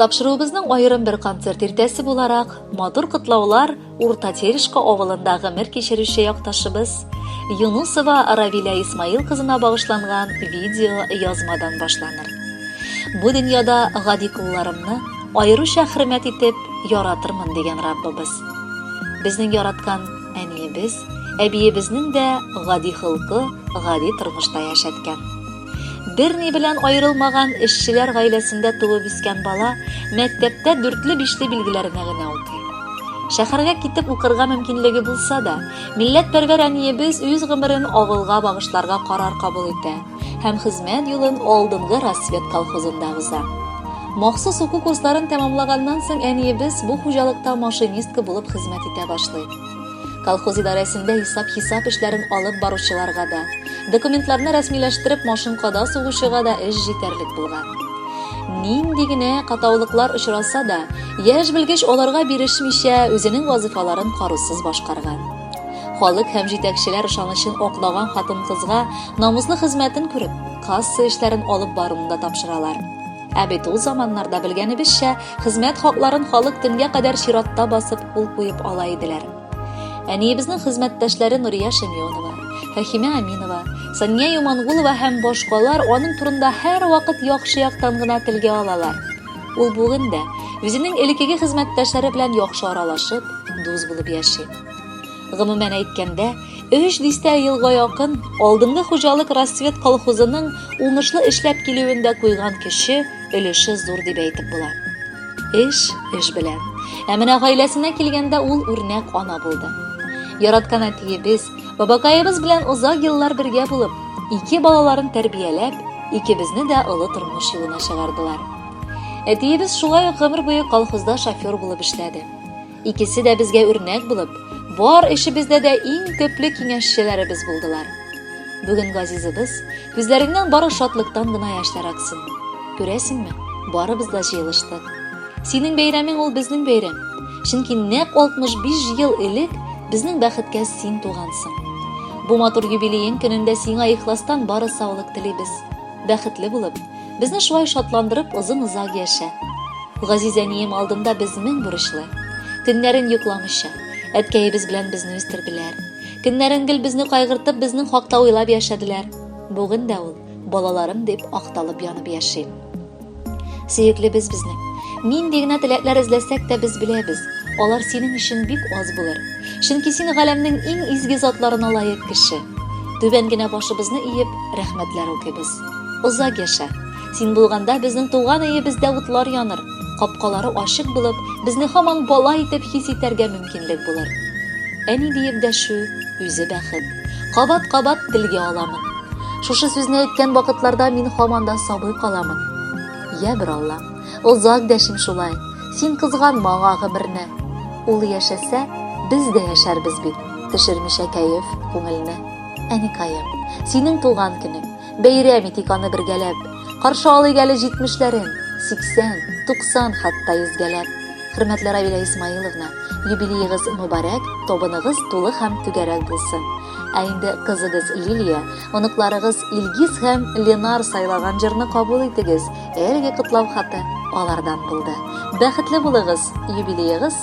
Тапшыруыбызның аерым бер концерт иртәсе буларак матур котлаулар Урта Терешка авылында гомер кичерүче якташыбыз Юнусова Равиля Исмаил кызына багышланган видео язмадан башланыр. Бу дөньяда гади кулларымны аеруча хөрмәт итеп яратырмын дигән Раббыбыз. Безнең яраткан Әниебез, әбиебезнең дә гади холкы, гади тормышта яшәткән. Берни белән аерылмаган эшчеләр гаиләсендә туып үскән бала мәктәптә дүртле бишле билгеләренә генә укый. Шәһәргә китеп укырга мөмкинлеге булса да, милләтпәрвәр әниебез үз гомерен авылга багышларга карар кабул итә. һәм хезмәт юлын алдынгы Рассвет колхозында уза. Махсус уку курсларын тәмамлаганнан соң әниебез бу хуҗалыкта машинистка булып хезмәт итә башлый. Колхоз идарәсендә исап-хисап эшләрен алып баручыларга да, документларны рәсмиләштереп машинкада сугучыга да эш җитәрлек булган. Нинди генә катаулыклар очраса да, яшь белгеч аларга бирешмичә, үзенең вазыйфаларын карусыз башкарган. Халык һәм җитәкчеләр ышанычын аклаган хатын-кызга намуслы хезмәтен күреп, касса эшләрен алып баруны да тапшыралар. Ә бит ул заманнарда белгәнебезчә, хезмәт хакларын халык төнгә кадәр чиратта басып кул куеп ала иделәр. Әниебезнең хезмәттәшләре Нурия Шәмионова, Фәхимә Аминова, Сания Юмангулова һәм башкалар аның турында һәрвакыт яхшы яктан гына телгә алалар. Ул бүген дә үзенең элеккеге хезмәттәшләре белән яхшы аралашып, дус булып яши. Гомумән әйткәндә, өч дистә елга якын алдынгы хуҗалык Рассвет колхозының уңышлы эшләп килүендә куйган көче, өлеше зур дип әйтеп була. Эш, эш белән. Ә менә гаиләсенә килгәндә ул үрнәк ана булды. Яраткан әтиебез, Бабакаебыз белән озак еллар бергә булып, ике балаларын тәрбияләп, икебезне дә олы тормыш юлына чыгардылар. Әтиебез шулай ук гомер буе колхозда шофер булып эшләде. Икесе дә безгә үрнәк булып, бар эшебездә дә иң төпле киңәшчеләребез булдылар. Бүген газизыбыз Күзләреңнән бары шатлыктан гына яшьләр аксын. Күрәсеңме, барыбыз да җыелыштык. Синең бәйрәмең ул безнең бәйрәм. Чөнки нәкъ 65 ел элек безнең бәхеткә син тугансың. Бу матур юбилеең көнендә сиңа ихластан бары саулык телибез. Бәхетле булып, безне шулай шатландырып озын-озак яшә. Газиз әнием алдында без мең бурычлы. Төннәрен йокламыйча, әткәебез белән безне үстерделәр. Көннәрен гел безне кайгыртып, безнең хакта уйлап яшәделәр. Бүген дә ул балаларым дип акталып янып яши. Сөеклебез безнең. Нинди генә теләкләр эзләсәк тә без беләбез, алар синең өчен бик аз булыр. Чөнки син галәмнең иң изге затларына лаек кеше. Түбән генә башыбызны иеп, рәхмәтләр укыйбыз. Озак яшә. Син булганда безнең туган өебездә утлар яныр, капкалары ачык булып, безне һаман бала итеп хис итәргә мөмкинлек булыр. Әни диеп дәшү үзе бәхет. Кабат-кабат телгә аламын. Шушы сүзне әйткән вакытларда мин һаман да сабый каламын. Я бер Алла, озак дәшим шулай. Син кызганма аңа гомерне. Ул яшәсә, без дә яшәрбез бит. Төшермичә кәеф, күңелне. Әникаем, синең туган көнең. Бәйрәм итик аны бергәләп. Каршы алыйк әле җитмешләрен, 80, 90 хәтта йөзгәләп. Хөрмәтле Равилә Исмаиловна, юбилеегыз мөбарәк, тобыныгыз тулы һәм түгәрәк булсын. Ә инде кызыгыз Лилия, оныкларыгыз Илгиз һәм Ленар сайлаган җырны кабул итегез. Әлеге котлау хаты алардан булды. Бәхетле булыгыз, юбилеегыз